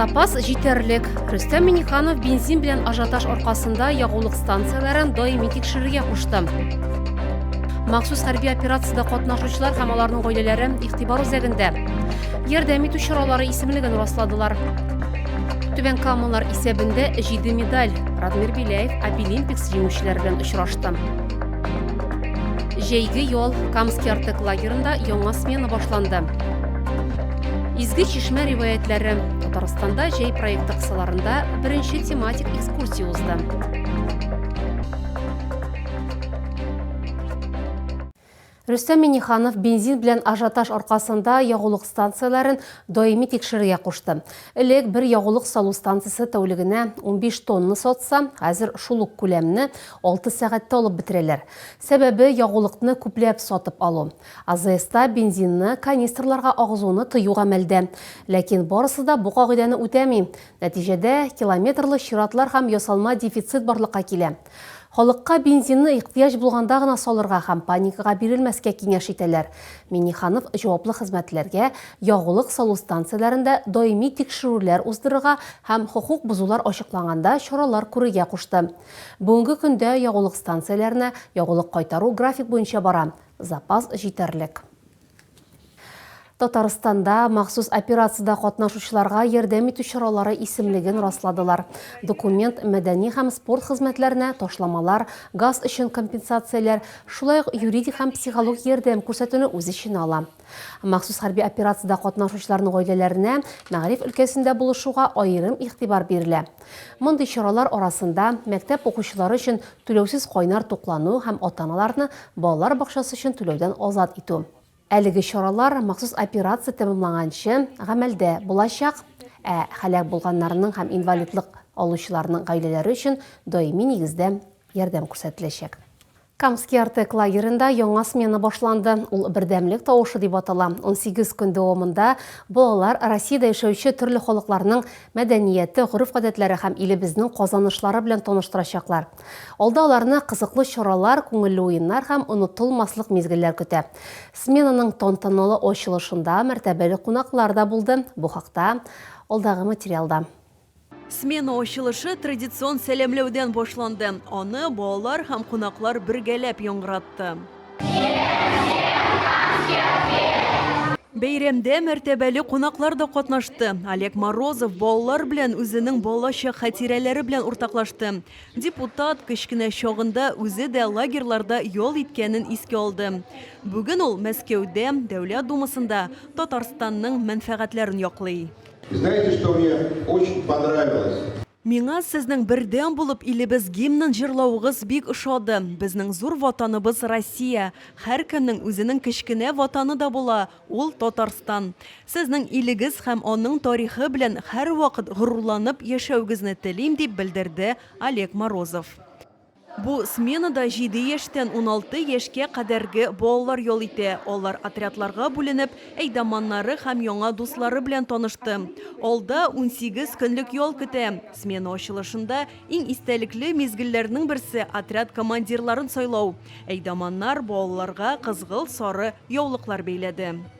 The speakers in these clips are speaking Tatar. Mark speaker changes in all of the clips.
Speaker 1: Запас җитәрлек. Рөстәм Миниханов бензин белән ажиотаж аркасында ягулык станцияләрен даими тикшерергә кушты. Махсус хәрби операциядә катнашучылар һәм аларның гаиләләре игътибар үзәгендә. Ярдәм итү чаралары исемлеген расладылар. Түбән Камалар исәбендә 7 медаль. Радмир Беляев Апилимпикс җиңүчеләре белән очрашты. Җәйге ял Камский Артек лагерында яңа смена башланды. Изге чишмә риваятләре Татарстанда җәй проекты кысаларында беренче тематик экскурсия узды. Рөстәм Миниханов бензин белән ажиотаж аркасында ягулык станцияләрен даими тикшерергә кушты. Элек бер ягулык салу станциясе тәүлегенә 15 тонна сатса, хәзер шул ук күләмне Алты сәгатьтә алып бетерәләр. Сәбәбе, ягулыкны күпләп сатып алу. АЗСта бензинны канистрларга агызуны тыю гамәлдә. Ләкин барысы да бу кагыйдәне үтәми. Нәтиҗәдә, километрлы чиратлар һәм ясалма дефицит барлыкка килә. Халыкка бензинны ихтыяҗ булганда гына салырга һәм паникага бирелмәскә киңәш итәләр. Минниханов җаваплы хезмәтләргә ягулык салу станцияләрендә даими тикшерүләр уздырырга һәм хокук бозулар ачыкланганда чаралар күрергә кушты. Бүгенге көндә ягулык станцияләренә ягулык кайтару график буенча бара, запас җитәрлек. Татарстанда махсус операциядә катнашучыларга ярдәм итү чаралары исемлеген расладылар. Документ мәдәни һәм спорт хезмәтләренә ташламалар, газ өчен компенсацияләр, шулай ук юридик һәм психологик ярдәм күрсәтүне үз эченә ала. Махсус хәрби операциядә катнашучыларның гаиләләренә мәгариф өлкәсендә булышуга аерым игътибар бирелә. Мондый чаралар арасында мәктәп укучылары өчен түләүсез кайнар туклану һәм ата-аналарны балалар бакчасы өчен түләүдән азат итү. Әлеге чаралар махсус операция тәмамланганчы гамәлдә булачак, ә һәлак булганнарның һәм инвалидлык алучыларның гаиләләре өчен даими нигездә ярдәм күрсәтеләчәк. Камский Артек лагеренда яңа смена башланды. Ул Бердәмлек тавышы дип атала. Унсигез көн дәвамында балалар Россиядә яшәүче төрле халыкларның мәдәнияте, гореф-гадәтләре һәм илебезнең казанышлары белән таныштырачаклар. Алда аларны кызыклы чаралар, күңелле уеннар һәм онытылмаслык мизгелләр көтә. Сменаның тантаналы ачылышында мәртәбәле кунаклар да булды. Бу хакта алдагы материалда. Смена
Speaker 2: ачылышы традицион сәламләүдән башланды. Аны балалар һәм кунаклар бергәләп яңгыратты. Бәйрәмдә мәртәбәле кунаклар да катнашты. Олег Морозов балалар белән үзенең балачак хатирәләре белән уртаклашты. Депутат кечкенә чагында үзе дә лагерьларда ял иткәнен иске алды. Бүген ул Мәскәүдә, Дәүләт Думасында Татарстанның мәнфәгатьләрен яклый. Знаете, что мне
Speaker 3: очень понравилось? Миңа сезнең
Speaker 2: бердәм булып илебез гимнын җырлавыгыз бик ошады. Безнең зур ватаныбыз Россия. Һәркемнең үзенең кечкенә ватаны да була, ул Татарстан. Сезнең илегез һәм аның тарихы белән һәрвакыт горурланып яшәүгезне телим, дип белдерде Олег Морозов. Бу сменада җиде яшьтән уналты яшькә кадәрге балалар ял итә. Алар отрядларга бүленеп, әйдаманнары һәм яңа дуслары белән танышты. Алда унсигез көнлек ял көтә. Смена ачылышында иң истәлекле мизгелләрнең берсе, отряд командирларын сайлау. Әйдаманнар балаларга кызгылт-сары яулыклар бәйләде.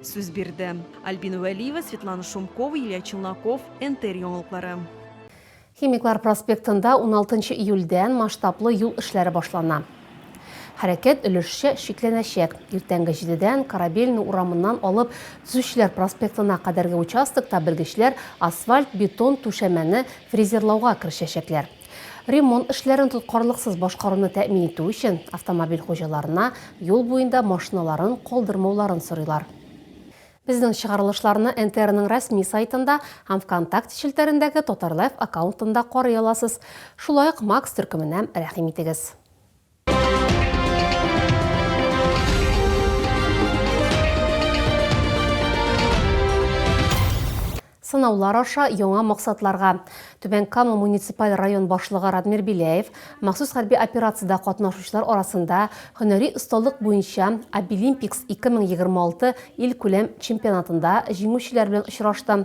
Speaker 2: Сүз бирде. Альбина Вәлиева, Светлана Шумкова, Илья Челноков, НТР яңалыклары. Химиклар
Speaker 1: проспектында 16 июльдән масштаблы юл эшләре башлана. Хәрәкәт өлешчә шикләнәчәк. Иртәнге җидедән Корабельный урамыннан алып Төзүчеләр проспектына кадәрге участокта белгечләр асфальт-бетон түшәмәне фрезерлауга керешәчәкләр. Ремонт эшләрен тоткарлыксыз башкаруны тәэмин итү өчен автомобиль хуҗаларына юл буенда машиналарын калдырмауларын сорыйлар. Безнең чыгарылышларны НТРның рәсми сайтында һәм ВКонтакте челтәрендәге Татарлайф аккаунтында карый аласыз. Шулай ук Макс төркеменә рәхим итегез. сынаулар аша яңа максатларга Түбән Кама муниципаль район башлыгы Радмир Беляев махсус хәрби операциядә катнашучылар арасында һөнәри осталык буенча Обилимпикс 2026 ил күләм чемпионатында җиңүчеләр белән очрашты.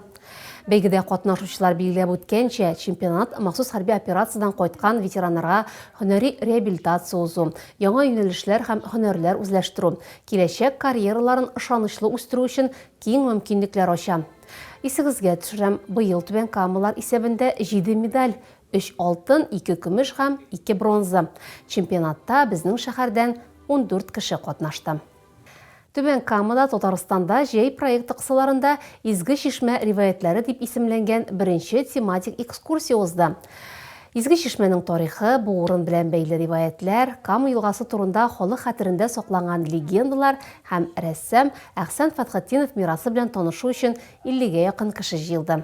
Speaker 1: Бәйгедә катнашучылар билгеләп үткәнчә, чемпионат махсус хәрби операциядән кайткан ветераннарга һөнәри реабилитация узу, яңа юнәлешләр һәм һөнәрләр үзләштерү, киләчәк карьераларын ышанычлы үстерү өчен киң мөмкинлекләр ача. Исегезгә төшерәм, быел Түбән Камалар исәбендә җиде медаль, өч алтын, ике көмеш һәм ике бронза. Чемпионатта безнең шәһәрдән ундүрт кеше катнашты. Түбән Камада Татарстанда җәй проекты кысаларында Изге чишмә риваятьләре дип исемләнгән беренче тематик экскурсия узды. Изге чишмәнең тарихы, бу урын белән бәйле риваятьләр, Кама елгасы турында халык хәтерендә сакланган легендалар һәм рәссам Әхсән Фәтхетдинов мирасы белән танышу өчен 50 гә якын кеше җыелды.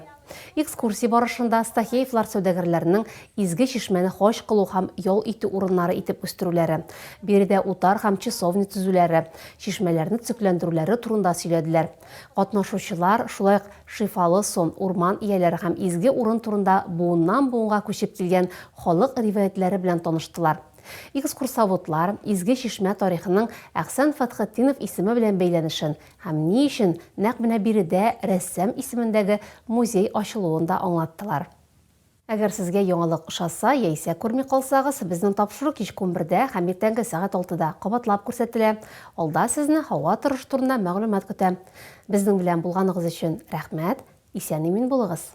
Speaker 1: Экскурсия барышында Стахеевлар сәүдәгәрләренең Изге Чишмәне хаҗ кылу һәм ял итү урыннары итеп үстерүләре, биредә утар һәм часовня төзүләре, чишмәләрне төзекләндерүләре турында сөйләделәр. Катнашучылар шулай ук Шифалы Сон, урман ияләре һәм изге урын турында буыннан-буынга күчеп килгән халык риваятьләре белән таныштылар. Экскурсоводлар Изге Чишмә тарихының Әхсән Фәтхетдинов исеме белән бәйләнешен, Һәм ни өчен нәкъ менә биредә рәссам исемендәге музей ачылуын да аңлаттылар. Әгәр сезгә яңалык ошаса яисә күрми калсагыз, безнең тапшыру кичке унбердә һәм иртәнге сәгать алтыда кабатлап күрсәтелә. Алда сезне һава торышы турында мәгълүмат көтә. Безнең белән булганыгыз өчен рәхмәт, исән-имин булыгыз!